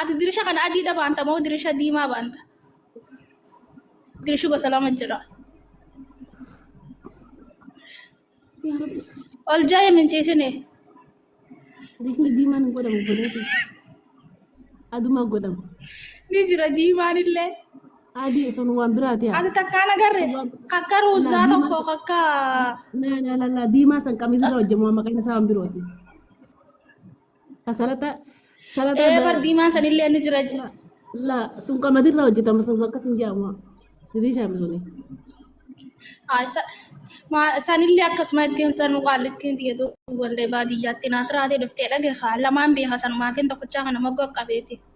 Ati dirisha kana adiidha baanta moo dirisha diimaa baanta? Dirishi gosa lama jira. Ol jaa'ee minciisine. Dirishni diimaan hin godhamu godheetu. Adumaa godhamu. Ni jira diimaan illee. Adii sun waan biraati haa. Ati takkaan agarre kakka ruuzaa tokko kakka Laa laa laa laa diimaa san qamiisirra hojjetamu maqaan isaa waan birooti. Salata salata ee bar diimaan sanillee ni jira jira la sun qamadirra hojjetama sun akkas hin jedhamu. Diriishaa misuni. Haa, isa- maa- sanillee akkasuma ittiin sanu qaallittiin tiyatu wallee baadiyyaatti naaf raatee dhuftee dhage haa lamaan beeka sanumaafin tokkochaa kana moggaa qabeeti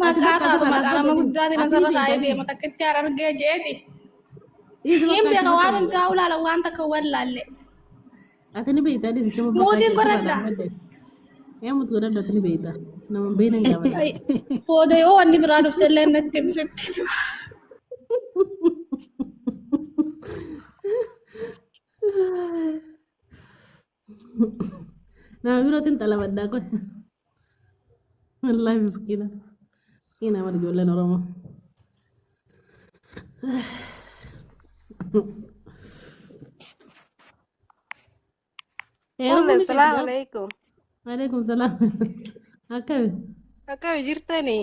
Maqaa taatu maqaa nama guddaati nasarra kaa'ee deema takka itti aan argee jeeti. Hin beeka waan hundaa ulaala waan takka wallaalle. Ati ni beektaa deemticha babbaqaa Mootiin jirtu godhadha. kanaan malee. Ee mutu godhadha ati ni beektaa. Nama hin beekne hin gaafatu. Ay, Booda yoo wanni biraa dhufte illee natti himsitti. Nama birootiin xalabaddaa kun. Wallaahi miskiina. Miskiina warri ijoolleen Oromoo. Heerumuu Umme, ni salaamu qabdaa? alaikum. Waalaikum salaam. Akkami? Akkami jirtanii?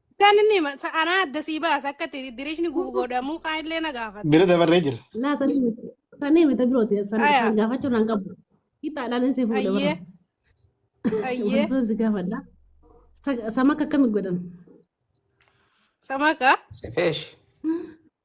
Isaan inni hima- sa- anaa adda sii baasa akka itti diriishni gubu godhamu kaan illee na gaafata. Bira dabarree jira. Laa sanii miti. Sanii miti birooti. San Aya. san gaafachuu nan qabu. Hixaadhaan isii fuudha bara. Ayyee. Ayyee. Wantoon si gaafadha. Sa- Sama akka akkamii godhan? Samaka. Sifeesh.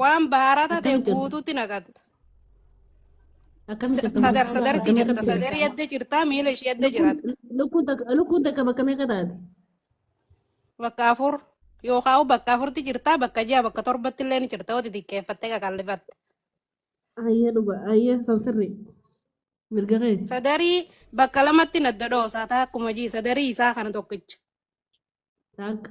Waan bahaara tate Akkamitti hojjeta? guutuutti naqatta. Akkamitti Sadar sadarti Akkamitti jirta. Sadar hojjeta? yadda jirta. Miila ishee yadda jiratta. Lukkuun takka- lukkuun takka bakka meeqa taate? Bakka afur yookaan bakka afurti jirta. Bakka ja'a bakka torbatti illee ni jirta. Oti xiqqeeffattee qaqallifatte. Ayyee dhuga ayyee san sirrii. Mirga keeti. Sadarii bakka lamatti nadda dhoosaa taa akkuma jii sadarii isaa kana tokkicha. Taakka.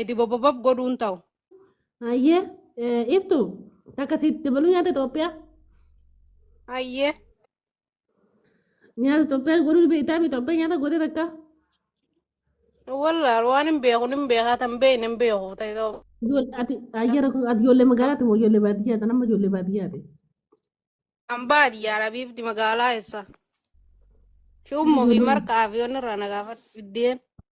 Edi bobobob godhuun ta'u. Ayyee eh, iftu takka si dabaluu nyaata Itoophiyaa Ayyee. nyaata Itoophiyaa godhuu ni beektaa mi Itoophiyaa nyaata gootee takka Wallaal waan hin beeku hin beekaa tan beekne hin beeku ta'e ta'u. Ijool- ati ayyara kun ati ijoollee magaalaati moo ijoollee baadiyyaati nama ijoollee baadiyyaati Kan baadiyyaa rabiibdi magaalaa eessa? Shuummoo fi marqaa fi waan irraa na gaafadhu biddeen.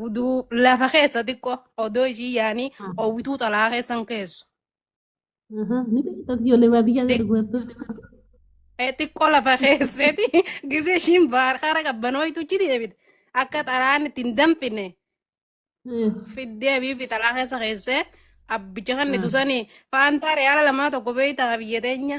Guduu lafa keessa xiqqoo odoo ishii yaanii Ah, oowwituu xalaa keessan keessu. aha, Ni beektaa ijoollee baadiyyaa gadi bu'attu. Eh, xiqqoo lafa keesseeti gisee ishiin baar hara qabbanooyituchi deebite akka xalaan itti hin danfine Eh, fiddee biifi xalaa keessa keessee abbicha kan ah, itusanii faantaa reyaala lamaa tokko beeytaa biyya teenya